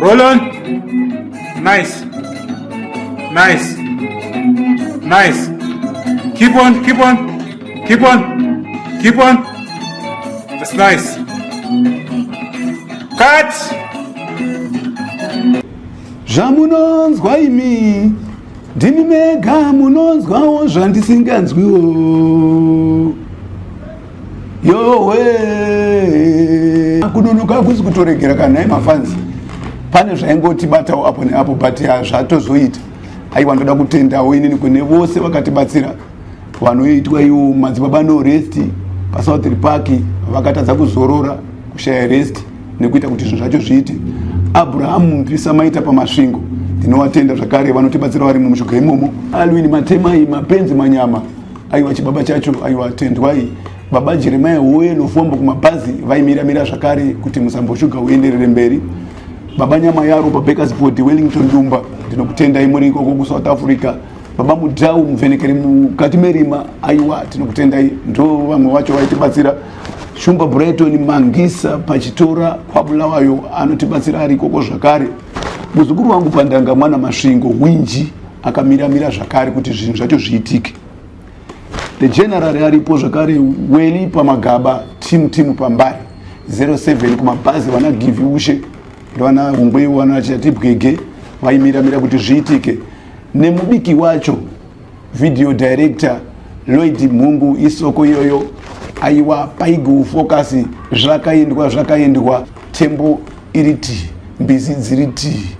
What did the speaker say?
Roll on. Nice. Nice. Nice. Keep on, keep on. Keep on. Keep on. That's nice. Cut. Zvamunonzwa imi ndimi mega munonzwawo zvandisinganzwiwo yowe kunonoka hakusi kutoregera kana nhai mafanzi pane zvaingotibatawo apo neapo but hazvatozoita aiwa ndoda kutendawo inini kune vose vakatibatsira vanoitwa iwo madzibaba no rest pasouth park vakatadza kuzorora kushaya rest nekuita kuti zvinhu zvacho zviite abrahamu mpisa maita pamasvingo ndinovatenda zvakare vanotibatsira vari mumushonga imomo alwini matemai mapenzi manyama aiwa chibaba chacho aiwa tendwai baba jeremia woye novhombo kumabhazi vaimira mira zvakare kuti musambo shuga uenderere mberi baba nyama yaro babakers board wellington dumba ndinokutendai muri ikoko kusouth africa baba mudhau muvhenekeri mukati merima aiwa tinokutendai ndo vamwe vacho vaitibatsira shumba brighton mangisa pachitora kwabulawayo anotibatsira ari ikoko zvakare Muzukuru wangu pandanga mwana Masvingo Winji akamiramira zvakare kuti zvinhu zvacho zviitike. The general aripo zvakare Weli pamagaba team team pambari 07 kumabhazi vana Givi Ushe vana Hungwe vana Chatibwege vaimiramira kuti zviitike nemubiki wacho video director lloyd mhungu isoko iyoyo aiwa paigu focus zvakaendwa zvakaendwa tembo iri tii mbizi dziri tii